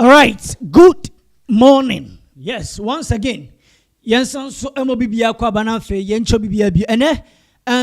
Alright good morning yes once again yɛnsan nso ɛmɔ biribiara kɔ aba na afei yɛnkyɛ biribiara bi ɛnɛ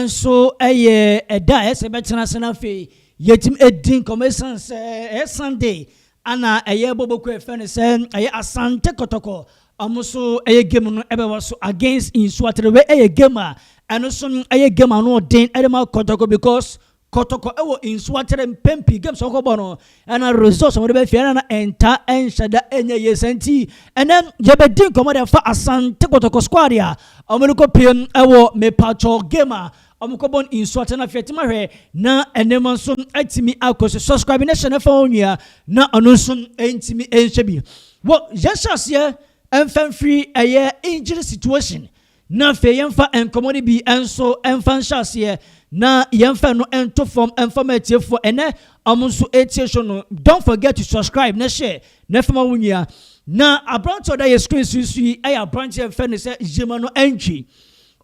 nso ɛyɛ ɛda a ɛsɛ bɛtena ase na afei yɛtumi ɛdi nkɔmɔ ɛsan sɛ ɛyɛ Sunday ana ɛyɛ bɔbɔkɔ ɛfɛ ne sɛ ɛyɛ Asante Kɔtɔkɔ ɔmo so ɛyɛ game no ɛbɛwɔ so against Nsuatere wei ɛyɛ game a ɛno so ɛyɛ game ano ɔden ɛde ma Kɔtɔkɔ because kɔtɔkɔ wɔ nsu atere mpɛn pii games ɔkɔ bɔ no ɛna results wɔde bɛfia ɛna na ɛnta ɛnhyɛ da ɛnyɛ yie sɛ nti ɛnɛ yɛbɛdi nkɔmɔ de fa asante kɔtɔkɔ squad a wɔn de kɔ piem ɛwɔ mepatwɔ game a wɔn kɔ bɔ nsu atere na afei tima hwɛ na nneɛma nso atumi akɔ so subscribe ne hyɛ ne fa wɔn nua na ɔno nso ntumi nhyɛ bi wɔ yɛhyɛ aseɛ mfɛnfiri ɛyɛ injury situation Na afei yɛmfa nkɔmmɔ no bi nso mfa nhyɛ aseɛ na yɛmfa ɛno nto fam mfa ma atiefoɔ ɛnɛ ɔmo nso ɛtie show no don't forget to subscribe na share na fa ma wo nua na aberante ɔda yɛ screen so so yi ɛyɛ aberante a yɛfrɛ no sɛ Yema no Antwi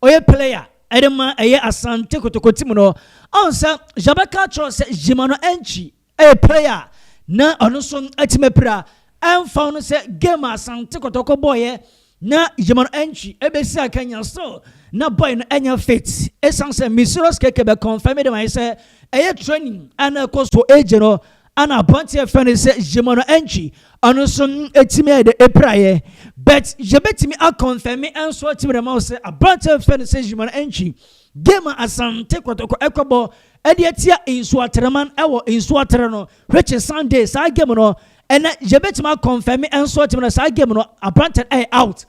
ɔyɛ player ɛde ma ɛyɛ Asante Kotoko team no ɔn sɛ yɛbɛka akyerɛ sɛ Yema no Antwi Ɛyɛ player a na ɔno nso atumi apira ɛmfa ho no sɛ game a Asante Kɔtɔkɔ bɔeɛ na Yɛma no entry ɛbɛsi akanya still na boy no ɛnyɛ fit ɛsiane sɛ Misirus Keke bɛ confirm de ma yɛ sɛ ɛyɛ training a na ɛkɔ so agye no ana aberanteɛ ɛfɛ no sɛ Yɛma no entry ɔno nso atumi ayɛ dɛ apiraeɛ but yɛbɛtumi akɔnfɛme nso atumi de ma wo sɛ aberanteɛ ɛfɛ no sɛ Yɛma no entry Game a Asante Kɔtɔkɔ rekɔbɔ de atia Nsuateraman wɔ Nsuatere no rekye Sunday. Saa game no, ɛnnɛ yɛbɛtumi akɔnfɛme nso atumi na saa game no aberanteɛ no yɛ out.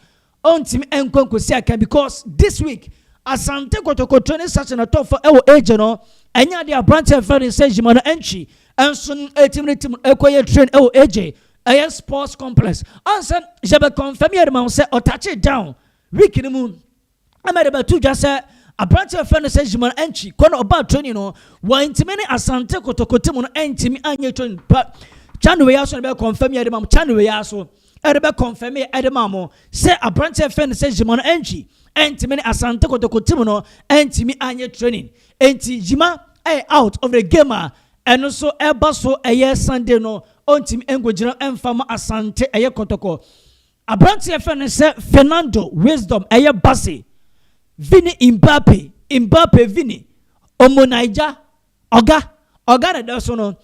Ɔntumi nkɔ nkɔsi akan because this week Asante Kɔtɔkɔ training session a ɛtɔ fam wɔ Agye no, ɛnyɛ adeɛ a aberanteɛ a yɛfrɛ no sɛ Yima no Antwi nso ɛtumi ne team no kɔyɛ train wɔ Agye, ɛyɛ sports complex. Ansa yɛbɛkɔnfɛme yɛde ma wo sɛ ɔtakyee down week no mu. Ɛma yɛde bɛto dwa sɛ aberante a wɔfrɛ no sɛ Zhimar Enchi kɔ na ɔbaa training no, wɔantumi ne Asante Kotoko team no antumi anyɛ training pa. Channel wei ara so na ɛbɛ confirm yɛ de ma mo. Channel wei ara so ɛde bɛ confirm yɛ ɛde ma mo sɛ aberante a wɔfrɛ no sɛ Zhimar Enchi antumi ne Asante Kotoko team no antumi anyɛ training. Enti Zhima ɛyɛ out of the game a ɛno nso ɛba so ɛyɛ Sunday no ɔntumi nkɔgyina ɛmfa ma Asante ɛyɛ Kotoko Aberanteɛ yɛfrɛ no sɛ Fernando Wisdom ɛyɛ Bassey, Vini Mbappe, Mbappe Vini, Omo Naija, Oga, Oga na ɛda so no,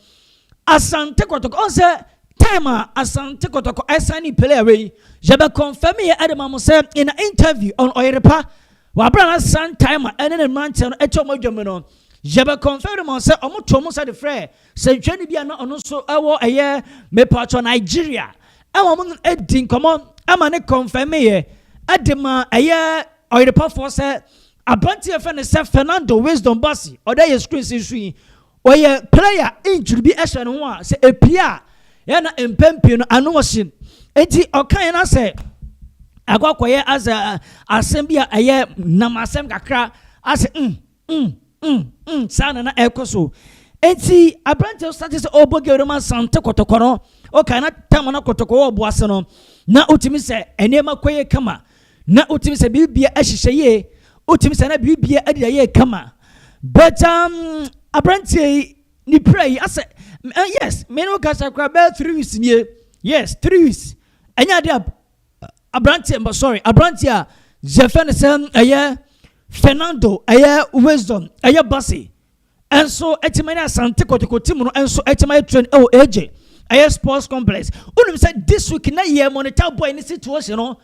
Asante Kɔtɔkɔ, ɔhu sɛ time a Asante Kɔtɔkɔ ɛsane player wei, yɛbɛ confirm yɛ ɛde ma mo sɛ in a interview on Ɔyerepa, wɔ aberɛ a na Sun Timer ɛne ne mmeranteɛ no ɛtwa wɔn adwa mu no, yɛbɛ confirm de ma wo sɛ wɔn to wɔn nsa de frɛɛ Sɛnkyerɛni bi a na ɔno nso ɛwɔ ɛyɛ mepɔtɔ Nigeria ɛwɔ mo edi nkɔmɔ ɛma ne kɔnfɛmeeɛ ɛde ma ɛyɛ ɔyerepɔfoɔ sɛ aberanteɛ yɛfrɛ no sɛ Fernando Wisdom Basi ɔde ɛyɛ screens nso yi ɔyɛ player injury bi ɛhyɛ ne ho a sɛ epie a yɛ na mpɛn pii no ano ɔhye eti ɔka yɛn asɛ akɔ akɔyɛ asɛ asɛm bi a ɛyɛ nam asɛm kakra asɛ mm. Mm, mm, mm, saa na na ɛkɔ so. Enti aberanteɛ sate sɛ ɔbɔ gero ma sante kɔtɔkɔ no, ɔka na tam no kɔtɔkɔ wɔ ɔbo ase no, na wotumi sɛ nneɛma kɔ yie kama, na wotumi sɛ biribia ahyehyɛ yie, wotumi sɛ na biribia adida yie kama. But um, aberanteɛ yi, ne pira yi, asɛ, uh, yes, me ne wo kasa koraa bɛyɛ three weeks nie, yes, three weeks, ɛnyɛ adeɛ a aberanteɛ sorry aberanteɛ a yɛfɛ no sɛ ɛyɛ Fernando ɛyɛ Wisdom ɛyɛ Basi ɛnso ɛtumi ne Asante Kotoko team no ɛnso ɛtumi ayɛ train ɛwɔ AJ ɛyɛ sports complex wonim sɛ this week na yɛ monitor boy ne situation no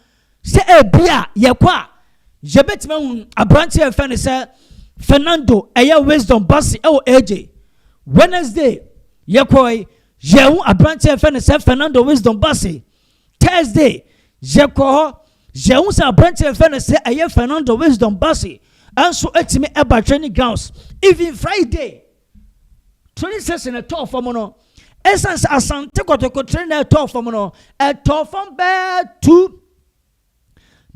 sɛ ebi a yɛkɔ a yɛbɛtumi ahu aberanteɛ ɛfɛ no sɛ Fernando ɛyɛ Wisdom Basi ɛwɔ AJ Wednesday yɛkɔe yɛhu aberanteɛ ɛfɛ no sɛ Fernando Wisdom Basi Thursday, yɛkɔɔ hɔ, yɛhu sɛ aberanteɛ a yɛfrɛ no sɛ ɛyɛ Fernando Wisdom Bassey nso atumi aba training grounds. Even Friday, training session ɛtɔɔ fam no, ɛsiane sɛ Asante Kotoko training na ɛtɔɔ fam no, ɛtɔɔ fam bɛɛ two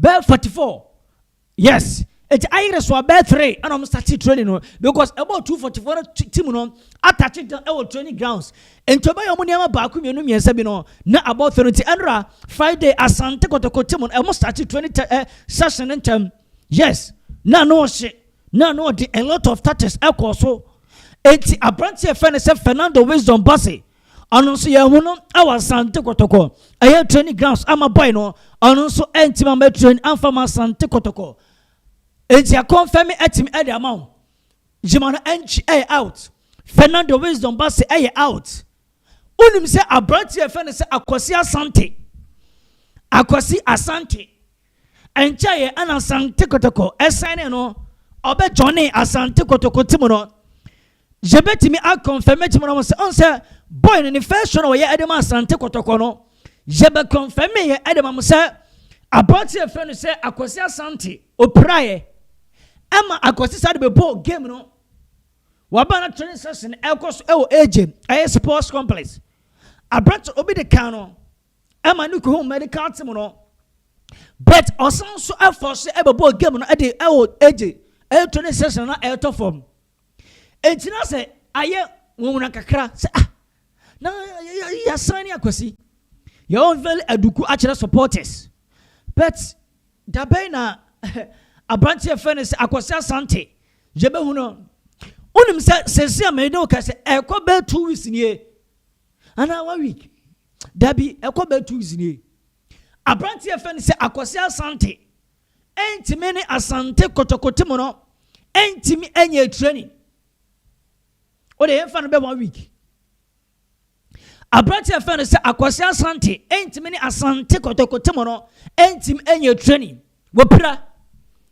bɛɛ forty four Yes eti ayere so abɛɛ three ɛna ɔmo start training no because ɛbɔ two forty four team no atachi down ɛwɔ training grounds nti ɔbɛyɛ ɔmo nneɛma baako mmienu mmiɛnsa bi no na abɔ three nti ɛnora friday asante kotoko team no ɛmo start training tɛ ɛ session no ntɛm yes na ano ɔhye na ano ɔde a lot of tactics ɛkɔɔ so eti aberante ɛfɛ ne sɛ fernando wisdom base Ɔno nso yɛahu no wɔ Asante Kɔtɔkɔ. Ɛyɛ training grounds ama boy no. Ɔno nso ɛntumi ama train amfa ma Asante Kɔtɔkɔ. Enti akɔnfɛmi atumi ɛde ama wo. Gyima no ɛnkyi ɛyɛ out. Fernando Wisdom ba se ɛyɛ out. Wonim sɛ aberanteɛ yɛfɛ no sɛ Akwasi Asante. Akwasi Asante. Ɛnkyɛeɛ na Asante Kotoko sɛnee no, ɔbɛ joinee Asante Kotoko team no. Yɛbɛtumi a confirm team no ho sɛ, ɔn sɛ boy no ne first show na wɔyɛ ɛde ma Asante Kotoko no, yɛbɛ confirm yɛ ɛde ma mo sɛ, aberante a yɛfrɛ no sɛ Akwasi Asante, ɔpiraeɛ ɛma Akwasi saa de bɛbɔɔ game no. Waba na training session ɛkɔ so ɛwɔ AJ ɛyɛ sports complex. Aberante obi de kan no. ɛma no kohuu medical team no but ɔsan nso ɛfɔ so ɛbɛbɔ game no ɛde ɛwɔ ɛgye ɛtɔ ne session na ɛtɔ fam eti na sɛ ayɛ nwonwona kakra sɛ ah na yɛsan ne akwasi yɛwɔ very aduku akyerɛ supporters but dabɛn na aberanteɛ fɛ no sɛ akwasi asante yɛbɛhu no wonim sɛ sɛsi a mɛyɛ ne wo kɛ sɛ ɛkɔ bɛɛ two weeks nie anaa one week dabi ɛkɔ bɛ two weeks nie abranteɛ fɛ no sɛ akɔse asante ɛntumi ne asante kɔtɔkɔte mu no ɛntumi ɛnyɛ training o de yɛmfa no bɛ one week abranteɛ fɛ no sɛ akɔse asante ɛntumi ne asante kɔtɔkɔte mu no ɛntumi ɛnyɛ training Wopira.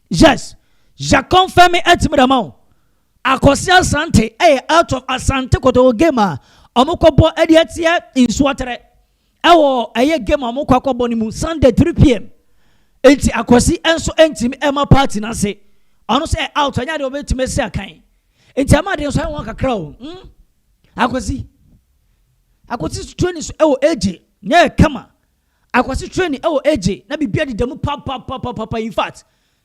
Yes. Ja confirm me ɛti me de ama wo. Akɔse Asante ɛyɛ out of Asante Kotoko game a ɔmo kɔ bɔ ɛde atia Nsuaterɛ ɛwɔ ɛyɛ game a ɔmo kɔ akɔ bɔ ne mu Sunday 3pm. Enti Akɔse ɛnso ɛntimi ɛma party no ase. Ɔno so ɛ out ɛnyɛ adeɛ ɔbɛtimi asi akan. Enti ɛma adeɛ nso ayɛ wɔn kakra o. Hmm? Akɔse. Akɔse so training so ɛwɔ AJ. Nyɛ kama. Akwasi training ɛwɔ AJ na biribiara deda mu papapapapa infact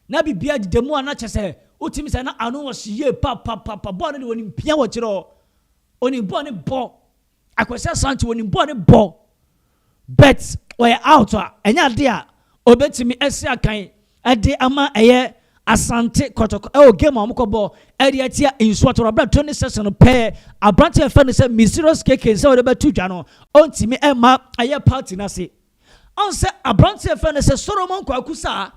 na biribiara deda mu a na kyɛsɛ wotumi sɛ na ano wɔ hye yie papapapa bɔɔl no de wɔnim pia wɔ akyire hɔ ɔnim bɔɔl no bɔ Akwasi Asante wɔnim bɔɔl no bɔ but ɔyɛ out a ɛnyɛ adeɛ a ɔbɛtumi asi akan de ama ɛyɛ Asante Kɔtɔkɔ ɛwɔ game a wɔkɔbɔ ɛde atia Nsuo Torabra training session no pɛɛ aberante a yɛfrɛ no sɛ Mysterious KK sɛ wɔde bɛto dwa no ɔntumi ɛmma ɛyɛ party no ase ɔn sɛ aberante a yɛfrɛ no sɛ Solomon Kwaku Saa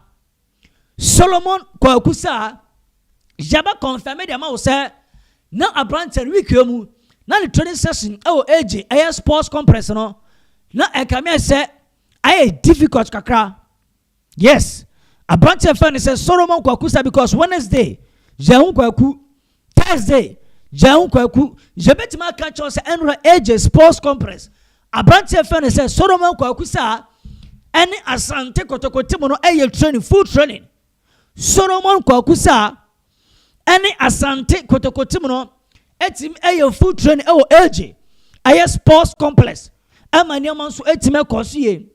Solomon Kwaku Saa yɛbɛ confirm de ama wo sɛ na aberante no week mu na ne training session ɛwɔ AJ ɛyɛ sports complex no na ɛkame sɛ ayɛ difficult kakra Yes abranteɛ fɛ no sɛ Solomon kwaku sa because Wednesday yɛ ho kwaku Thursday yɛ ho kwaku yɛbɛtumi aka kyɛw sɛ ɛnora AJ sports complex abranteɛ fɛ no sɛ Solomon kwaku sa ɛne Asante kotokote mu no ɛyɛ training full training Solomon kwaku sa ɛne Asante kotokote mu no ɛtumi ɛyɛ full training ɛwɔ AJ ɛyɛ sports complex ɛma nneɛma nso ɛtumi ɛkɔ so yie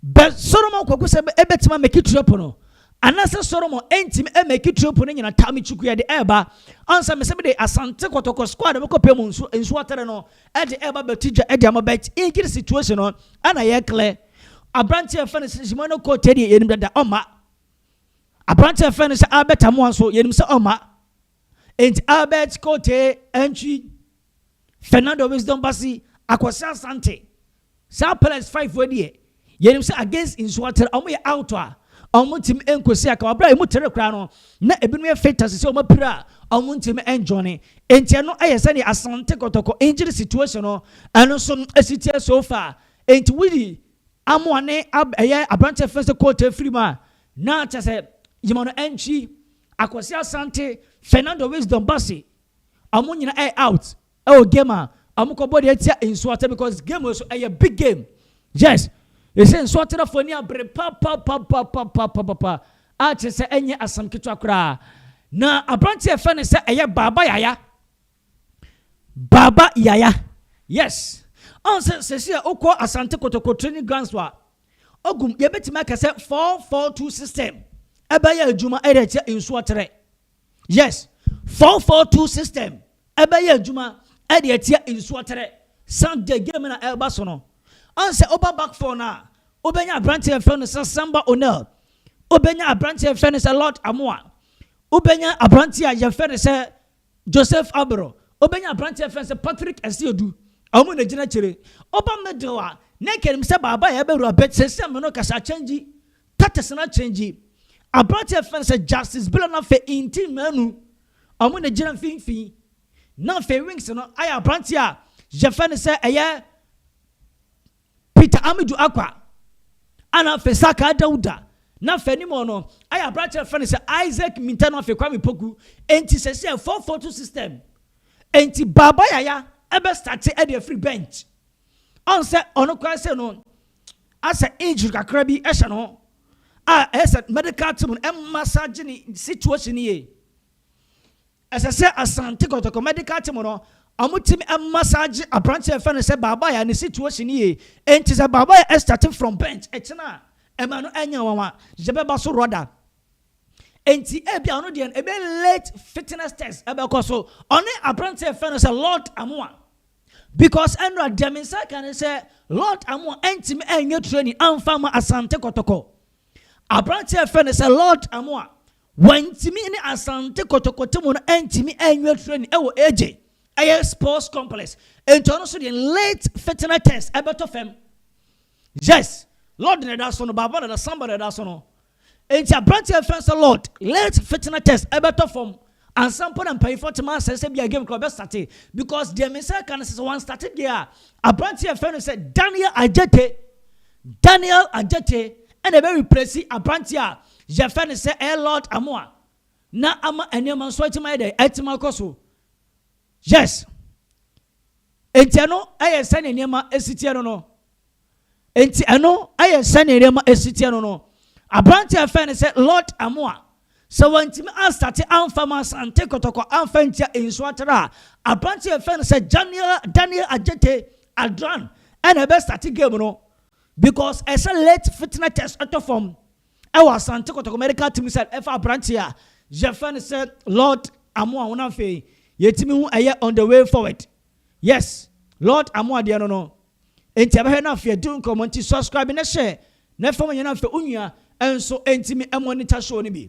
Bɛ Solomon kwaku sɛ ebetumi ameki trip no anasɛ Solomon entumi ameki trip no nyina taa metwi kuya de ɛɛba ansa mesɛ mede Asante Kɔtɔkɔ squad mekɔ pɛ mu nsu nsu atere no ɛde ɛɛba bɛti dwa ɛde ama bɛt inkiri situation no ɛna yɛ klɛ aberanteɛ fɛ no sɛ Simon no kɔ tɛdeɛ yɛnim dada ɔma aberanteɛ fɛ no sɛ Albert Amoa nso yɛnim sɛ ɔma Enti Albert Kotee Antwi, Fernando Wisdom Bassey, Akwasi Asante, saa Pellets five foɔ deɛ, yɛnim sɛ against nsuo atere, wɔn yɛ out a, wɔntumi nkɔsi akawa. Aberɛ a ɛmu tere koraa no, na ebinom yɛ fit ase sɛ wɔn apira a, wɔntumi njoine. Enti ɛno yɛ sɛdeɛ Asante Kɔtɔkɔ injury situation no, ɛno nso ɛsi teɛ so far. Enti wodi amoa ne ab ɛyɛ aberanteɛ fɛn sɛ Kotee firi mu a, Na kyerɛ sɛ yɛma no ɛnkyi, Akwasi Asante, Fernando Wisdom Bassey, wɔn nyinaa ɛyɛ out ɛwɔ game a wɔn kɔbɔ deɛ ɛtia Nsuate because game wɔ so ɛyɛ big game. Yes, ɛsɛ Nsuate na fo ani abere papapapapapapapa a kyerɛ sɛ ɛnyɛ asɛm ketewa koraa. Na aberanteɛ yɛfrɛ no sɛ ɛyɛ Baaba Yaya. Baba yaya yes ɔn sɛ sɛsi a okɔ asante kotoko training grounds wa ogum yɛ bɛtumi aka sɛ four four two system ɛbɛyɛ adwuma ɛde akyɛ nsu ɔtrɛ yes four four two system ɛbɛyɛ adwuma ɛde akyɛ nsu ɔtrɛ sunday game na ɛba so no ɔn sɛ ɔba back four na ɔbɛnya aberante ɛfɛ no sɛ samba onel ɔbɛnya aberante ɛfɛ no sɛ lord amoa ɔbɛnya aberante a yɛfɛ no sɛ Joseph Abro, obenya abranteɛ fɛn sɛ Patrick Asiedu, ɔmo na egyina akyire, ɔba middle a na nka enim sɛ baaba yɛ abɛwura but seesei me no kasa akyɛngyi, tatesn akyɛngyi, abranteɛ fɛn sɛ Justice Bella na afei Inti Manu, ɔmo na egyina mfinfin, na afei wings no ayɛ abranteɛ a yɛfɛ no sɛ ɛyɛ Peter Amidu Akwa a na afei Sakaa Dauda na fanimu no ayɛ aberanteɛ a wɔfrɛ no sɛ Isaac Minteh no afei Kwame Poku nti sɛsi a four four two system nti Baba Yaya ɛbɛ starte ɛde afiri bench ɔn sɛ ɔno koraa sɛ no asɛ injury kakra bi ɛhyɛ no a ɛyɛ sɛ medical team no ɛmma saa gye ne situation yie. Ɛsɛ sɛ Asante Kotoko Medical Team no wɔtumi massage aberante a yɛfrɛ no sɛ Baabaaya ne situation no yie. Enti sɛ Baabaaya start from bench ɛkyena a ɛma no nyɛ nwanwa. Yɛbɛba so Rhoda. Enti ebia ɔno deɛ no ɛbɛ late fitness test ɛbɛkɔ so. Ɔne aberante a yɛfrɛ no sɛ Lord Amoah. Because ɛnora deɛ me nsa ka ne sɛ Lord Amoah ɛntumi ɛnyɛ training amfa ma Asante Kotoko. Aberante a yɛfrɛ no sɛ Lord Amoah Wantumi ne Asante Kɔtɔkɔte mu no antumi annya training wɔ AJ, ɛyɛ sports complex, nti ɔno nso deɛ late fitness test ɛbɛtɔ fam. Yes, Lord na ɛda so no, Baba dada, Samba na ɛda so no. Nti aberanteɛ yɛfrɛ no sɛ Lord, late fitness test ɛbɛtɔ fam ansa mpo na mpanyinfoɔ atim asɛ sɛ bia game kora ɔbɛstate because deɛ me sɛ ka no sɛ sɛ wanstate deɛ a aberanteɛ yɛfrɛ no sɛ Daniel Adjetey, Daniel Adjetey ɛna ɛbɛ replace aberanteɛ a Yɛfrɛ no sɛ ɛyɛ Lord Amoa na ama nneɛma nso atumi ayɛ dɛ atumi akɔ so. Yes. Enti ɛno ɛyɛ sɛnea nneɛma esi teɛ no no. Enti ɛno ɛyɛ sɛnea nneɛma esi teɛ no no. Aberante a yɛfrɛ no sɛ Lord Amoa, sɛ wantumi anstate amfa mu asante kɔtɔkɔ amfa ntia nsu atara a, aberante a yɛfrɛ no sɛ Daniel Daniel Adjetey Adran ɛna ɛbɛstate game no. Because ɛsɛ late fitna test ɛtɔ fam ɛwɔ Asante Kotoko medical team sɛ ɛfa abranteɛ a yɛfrɛ no sɛ Lord Amoah ho na afei yɛtumi hu ɛyɛ on the way forward yes Lord Amoah deɛ no no enti ɛbɛhwɛ na afei adi nkɔmɔ nti subscribe na share na fam nyɛ na afei onua nso ɛntumi ɛmonitor show no bi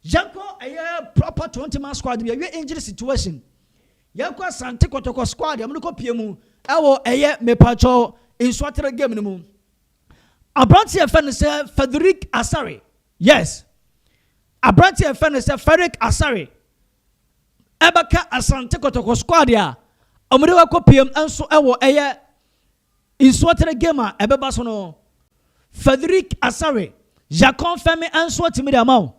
yɛnkɔ ɛyɛ proper 20 man squad bi ɛwie injury situation. Yɛn kɔ Asante Kɔtɔkɔ squad a wɔn kɔ pie mu ɛwɔ ɛyɛ mepakyɛw nsuatere game no mu. Aberanteɛ a yɛfrɛ no sɛ Frederick Asare, yes, aberanteɛ a yɛfrɛ no sɛ Frederick Asare ɛbɛka Asante Kɔtɔkɔ squad a wɔn de wakɔ pie mu nso ɛwɔ ɛyɛ Nsuɔterɛ game a ɛbɛba so no, Federic Asare Jakɔnfɛmi nsuɔtemi de ama wo.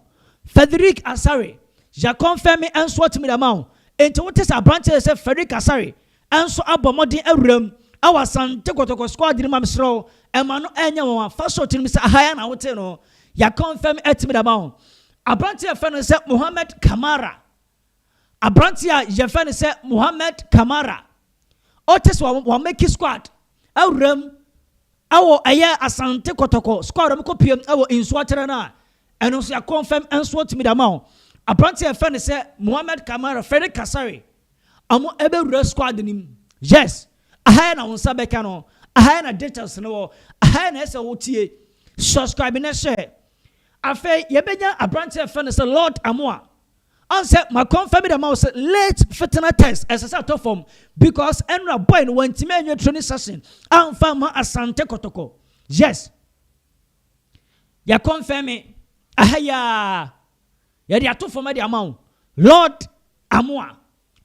Federic Asare Jakɔnfɛmi nsuɔtemi de ama wo. Enti wote sɛ aberanteɛ a ɛsɛ Frederic Asare nso abɔ mmɔden awura mu wɔ Asante Kɔtɔkɔ squad no mu a mesrɛ wo ɛma no ɛnyɛ nwanwa. Fa hyɛ wo tirim sɛ aha yi ara na wotee no, Jakɔnfɛmi atemi de ama wo. Aberanteɛ a yɛfrɛ no sɛ Mohamed Kamara. Aberanteɛ a yɛfrɛ no sɛ Mohamed Kamara, ɔte sɛ wɔamake squad awuram wɔ ɛyɛ Asante Kɔtɔkɔ squad a wɔkɔpiem wɔ Nsuatera no a ɛno nso yɛakɔnfɛm nso atumi de ama wo. Aberanteɛ a yɛfrɛ no sɛ Mohamed Kamara, Freddy Kasare, ɔmo ɛbɛwura squad no mu. Yes, aha yɛ na wo nsa bɛka no, aha yɛ na details no wɔ, aha yɛ na ɛsɛ wotie. Subscribe na hyɛ. Afei yɛbɛnya aberanteɛ a yɛfrɛ no sɛ Lord Amoa. Ɔn sɛ ma kɔnfa bi da ma wo sɛ late fetena test ɛsɛ sɛ atɔ fam because ɛnora boy no wantumi anwie training session amfa amma Asante Kotoko. Yes. Yɛ kɔnfɛme aha yi ara. Yɛde ato fam de ama wo. Lord Amoah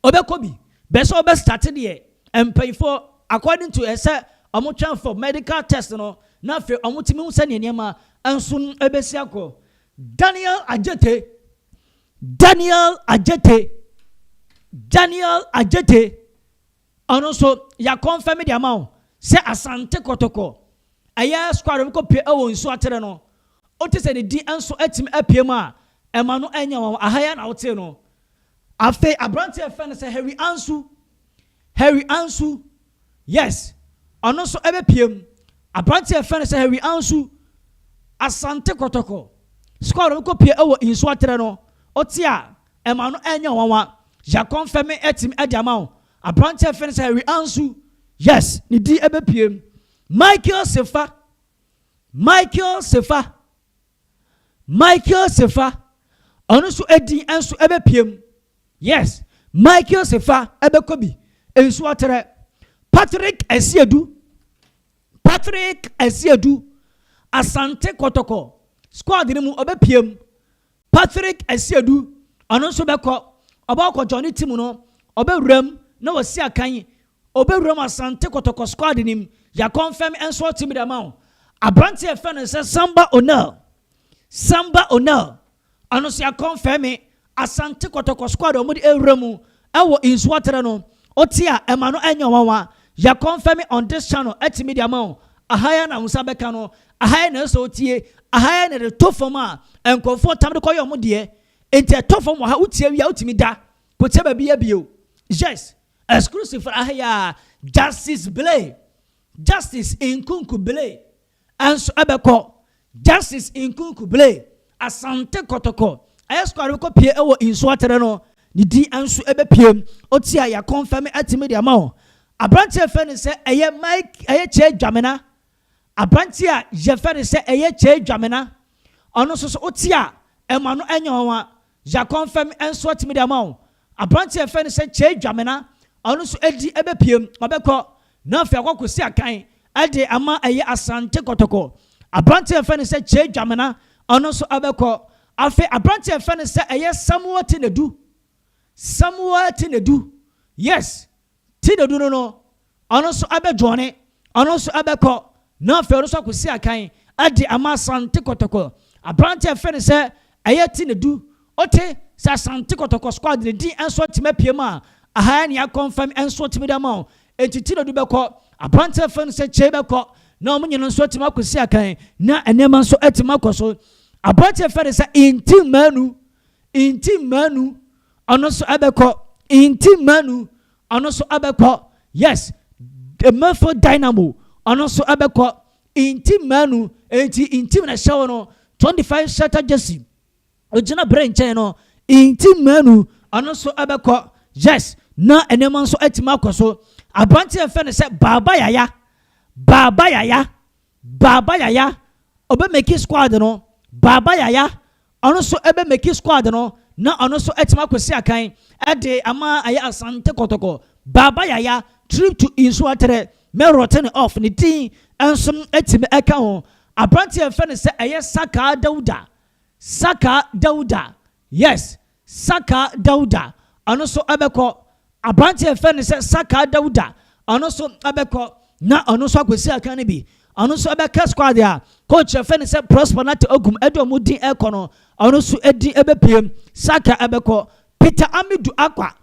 Ɔbɛkɔ bi bɛ sɛ ɔbɛ start deɛ mpanyinfoɔ according to ɛsɛ ɔmo twɛn for medical test no na afei ɔmo tumi hu sɛdeɛ nneɛma nso ɛbɛsi akɔ. Daniel Adjetey Daniel Adjetey Daniel Adjetey Ɔno nso ya confirm de ama wo sɛ Asante Kɔtɔkɔ ɛyɛ squad ɔmo kɔ pie ɛwɔ nsuo atere no wote sɛ ne din nso atumi apue mu a ɛma no ɛnyɛ nwanwa aha yi ara na wotee no Afei aberanteɛ a yɛfrɛ no sɛ Harry Ansu, Harry Ansu, yes, ɔno nso ɛbɛpue mu. Aberanteɛ a yɛfrɛ no sɛ Harry Ansu, Asante Kɔtɔkɔ, sukuu a ɔde kɔ pue wɔ Nsuo Aterɛ no, wote a, ɛma no ɛnyɛ nwanwa. Yɛakɔnfɛm me atumi ɛde ama wo. Aberanteɛ a yɛfrɛ no sɛ Harry Ansu, yes, ne din ɛbɛpue mu. Michael Sefa, Michael Sefa. Michael Sefa ɔno nso ɛdin nso ɛbɛpie mu yes Michael Sefa ɛbɛkɔ bi nso atrɛ Patrick Asiedu Patrick Asiedu Asante Kɔtɔkɔ squad no mu ɔbɛpie mu Patrick Asiedu ɔno nso bɛkɔ ɔbɛkɔ Johnny Timu no ɔbɛwura mu na wasi akan Ɔbɛwuram Asante Kɔtɔkɔ squad no mu, Yakɔnfɛm nso ɔte mu de ama wo. Aberanteɛ a yɛfrɛ no sɛ Samba Onel, Samba Onel, ɔno nso Yakɔnfɛm me, Asante Kɔtɔkɔ squad a wɔde awura mu wɔ Nsuaterɛ no, wote a ɛma no nyɛ nwanwa. Yakɔnfɛm me on this channel ate mu de ama wo. Aha ara na wo nsa bɛka no, aha ara na ɛsɛ sɛ wotie, aha ara na ɛde to fam a nkurɔfoɔ tam de kɔyɛ wɔn deɛ. Enti ɛtɔ fam wɔ ha, wotie wie a wotumi da kɔtia baabi yɛ bio. Yes, Exclusive for Ahya, Justice Blay, Justice Nkunku Blay nso bɛkɔ. Justice Nkunku Blay, Asante Kotoko, ɛyɛ squad a wɔkɔpue wɔ nsuo atere no, ne din nso bɛpue. Ɔti a yɛakɔnfɛme atumi de ama wo. Aberanteɛ fɛ no sɛ ɛyɛ Mike ɛyɛ Kyɛ Dwamena Aberanteɛ a yɛfrɛ no sɛ ɛyɛ Kyei Dwamena, ɔno nso so wote a, ɛma no nyɛ nwanwa. Zakon Fam nso atumi de ama wo. Aberanteɛ a yɛfrɛ no sɛ Kyei Dwamena, ɔno nso adi bɛpue mu, ɔbɛkɔ na afei akɔ akɔsi akan de ama ɛyɛ Asante Kɔtɔkɔ. Aberanteɛ a yɛfrɛ no sɛ Kyei Dwamena, ɔno nso ɔbɛkɔ. Afei aberanteɛ a yɛfrɛ no sɛ ɛyɛ Samuel Tenadu, Samuel Tenadu, yes, Ti dadu no no, ɔno nso abɛdwoɔne, ɔno nso abɛkɔ, na afei ɔno nso akɔsi akan de ama Asante Kɔtɔkɔ. Aberanteɛ a yɛfrɛ no sɛ ɛyɛ Ti Nadu, wote sɛ Asante Kɔtɔkɔ squad no din nso atumi apue mu a, aha yɛ nea akɔnfɛm nso atumi de ama wo. Enti Ti Nadu bɛkɔ, aberanteɛ a yɛfrɛ no sɛ Kyei bɛkɔ, na wɔn nyinaa nso atumi akɔsi akan, na nneɛma nso atumi akɔ so. Aberanteɛ a yɛfrɛ no sɛ Inti Manu, Inti Manu, ɔno so ɛbɛkɔ Inti Manu ɔno so ɛbɛkɔ yes Mefo Dynamo ɔno so ɛbɛkɔ Inti Manu enti Inti na ɛhyɛ wɔn 25 shatter jersey ogyina bere nkyɛn no Inti Manu ɔno so ɛbɛkɔ yes na nneɛma nso atumi akɔ so aberante a yɛfɛ no sɛ Baaba Yaya Baaba Yaya Baba Yaya ɔbɛ meki squad no. Baba Yaya ɔno nso ɛbɛ meki squad no na ɔno nso atumi akwasi akan ɛde ama ɛyɛ Asante Kɔtɔkɔ. Baba Yaya trip to Nsuo Atere mɛ wrten off ne din nso atumi ɛka ho. Abranteɛ yɛfrɛ no sɛ ɛyɛ Sakaa Dauda. Sakaa Dauda yes Saka Dauda, ɔno nso bɛkɔ. Aberanteɛ a yɛfrɛ no sɛ Saka Dauda, ɔno nso bɛkɔ na ɔno nso akɔsi akan no bi. Ɔno nso bɛka squad a coach a yɛfrɛ no sɛ Prosper Nartey Ogum de wɔn din rekɔ no, ɔno nso din bɛpiem. Saka bɛkɔ. Peter Amidu Akwa,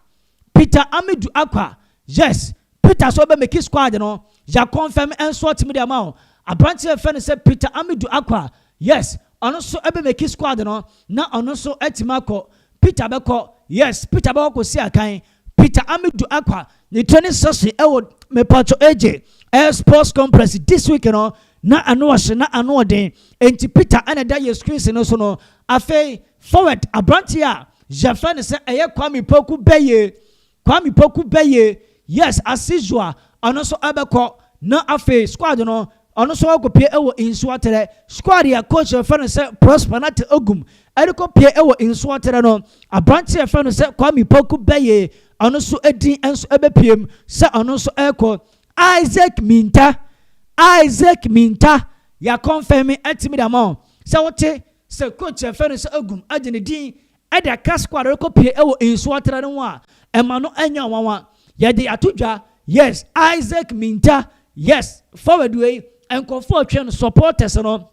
Peter Amidu Akwa, yes, Peter sɛ ɔbɛ meki squad no ya confirm ɛnso ɔtumi de ama wo abranteɛ a yɛfrɛ no sɛ Peter Amidu Akwa yes ɔno nso ɛbɛ meki squad no na ɔno nso atumi akɔ Peter bɛkɔ yes Peter bɛkɔ kɔsi akan Peter Amidu Akwa ne training session ɛwɔ mepatwɔ AJ ɛyɛ sports complex this week no na ano ɔhye na ano ɔden enti Peter ɛna ɛda yɛ screens no so no afei forward abranteɛ a yɛfrɛ no sɛ ɛyɛ Kwame Poku bɛyɛ Kwame Poku bɛyɛ Yes Asisua a ɔno nso bɛkɔ na afei squad no ɔno nso akɔpue wɔ Nsuaterɛ. Squad a coach a wɔfrɛ no sɛ Prosper Nartey Ogum rekɔpue wɔ Nsuaterɛ no, aberanteɛ a wɔfrɛ no sɛ Kwame Poku bɛyɛ ɔno nso din nso bɛpue mu sɛ ɔno nso rekɔ. Isaac Mintah Isaac Mintah, yɛakɔnfɛme atumi de ama wo sɛ wote sɛ coach a wɔfrɛ no sɛ Ogum de ne din Ɛda Casco a rekɔpue wɔ nsuo atere no ho a, ɛma no nyɛ nwanwa. Yɛde ato dwa, yes, Isaac Mintah, yes, forward wei, nkurɔfoɔ retwɛn no, supporters no,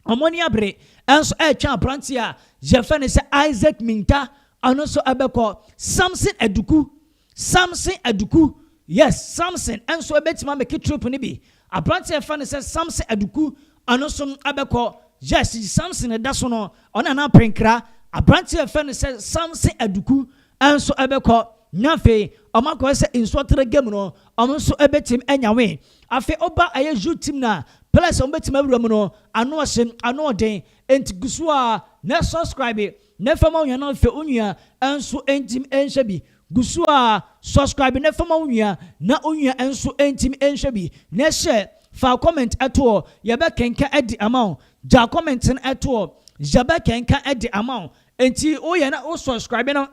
wɔn ani abere nso retwɛn aberanteɛ a yɛfrɛ no sɛ Isaac Mintah, ɔno nso bɛkɔ. Samson Aduku, Samson Aduku, Yes, Samson nso ɛbɛtumi abɛki trip no bi. Aberanteɛ a yɛfrɛ no sɛ Samson Aduku, ɔno nso abɛkɔ. Yes, Samson ɛda so no, ɔne Nana Aprenkra. Aberanteɛ a yɛfrɛ no sɛ Samson Aduku nso ɛbɛkɔ. Na afei, wɔn akɔyɛ sɛ nsuɔterɛ game no, wɔn nso ɛbɛtumi anya win. Afei woba ɛyɛ youth team no a, players a wɔbɛtumi awura mu no, ano ɔhye, ano ɔden. Enti gu so ara na subscribe Ne fa ma onua na afei onua nso ntumi nhwɛ bi gu so a subscribe ne fa ma onua na onua nso ntumi nhwɛ bi na hyɛ fa comment to hɔ yɛbɛkenka de ama wo gya comment no to hɔ yɛbɛkenka de ama wo nti woyɛ na wo subscribe no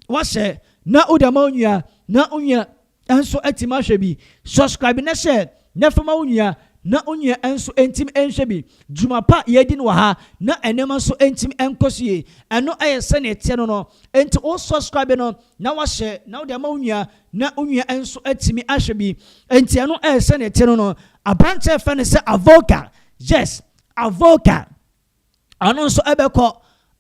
wahyɛ na wode ama wo nua na wo nua nso atim ahwɛ bi subscribe na hyɛ na fa ma wo nua na wo nua nso ntim nhwɛ bi dwuma pa yɛdi no wɔ ha na nneɛma nso ntim nkɔ so yie ɛno ɛyɛ sɛnea ɛteɛ no no nti wo subscribe no na wahyɛ na wode ama wo nua na wo nua nso atimi ahwɛ bi nti ɛno ɛyɛ sɛnea ɛteɛ no no aberanteɛ fɛ no sɛ avoka yes avoka Ɔno nso ɛbɛkɔ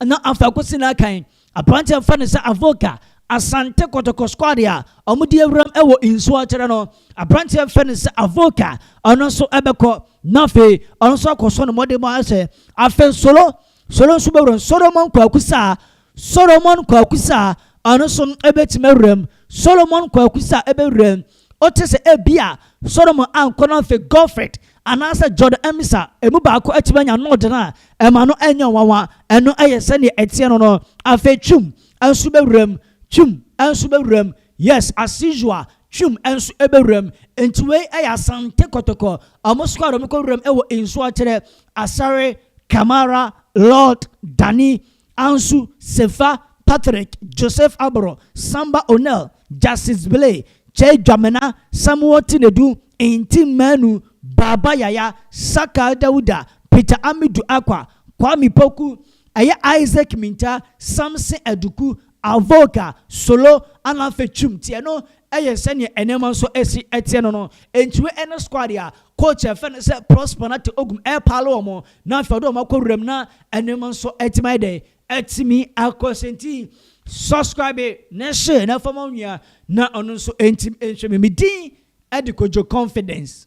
na after kosi na kan aberanteɛ mfa ne sɛ avoka asante kɔtɔkɔ squad a wɔn di awuram ɛwɔ nsuo akyerɛ no aberanteɛ mfa ne sɛ avoka ɔno nso ɛbɛkɔ na afei ɔno nso akɔsɔ ne mmɔden mu ahyɛ afei nsolo solo nso bɛwuram solomon kwakusa solomon kwakusa ɔno nso ɛbɛtumi awuram solomon kwakusa ɛbɛwuram Wote sɛ ebia Solomon ankɔ no afi Gofret anaasɛ Jordan ammisa emu baako atumi anya nod no a, ɛma no nyɛ nwanwa. Ɛno yɛ sɛnea ɛteɛ no no. Afei Twum nso bɛwuram. Twum nso bɛwuram. Yes, as usual, Twum nso bɛwuram. Enti wei yɛ Asante Kotoko. Wɔsoa a wɔkɔ wuram wɔ nsuatere, Asare, Kamara, Lord, Dani, Ansu, Sefa, Patrick, Joseph Aboro, Samba Onel, Justice Bile, Kyei Dwamena, Samuel Tinedu, Nti Manu, Baba Yaya, Sakal Dawuda, Peter Amidu Akwa, Kwame Poku, ɛyɛ Isaac Mintah, Samson Aduku, Avoka, solo, anaa fetwum teɛ no yɛ sɛdeɛ nneɛma nso si teɛ no no. Enti wei ne squad a coach a yɛfrɛ no sɛ Prosper Nartey Ogum repaale wɔn na afei ɔde wɔn akɔ wuram na nneɛma nso atumi ayɛ dɛn? Atumi akɔ so nti subscribe na share na fa ma onua na ɔno nso ntim nhwɛ me. Me din de Kojo Confidence.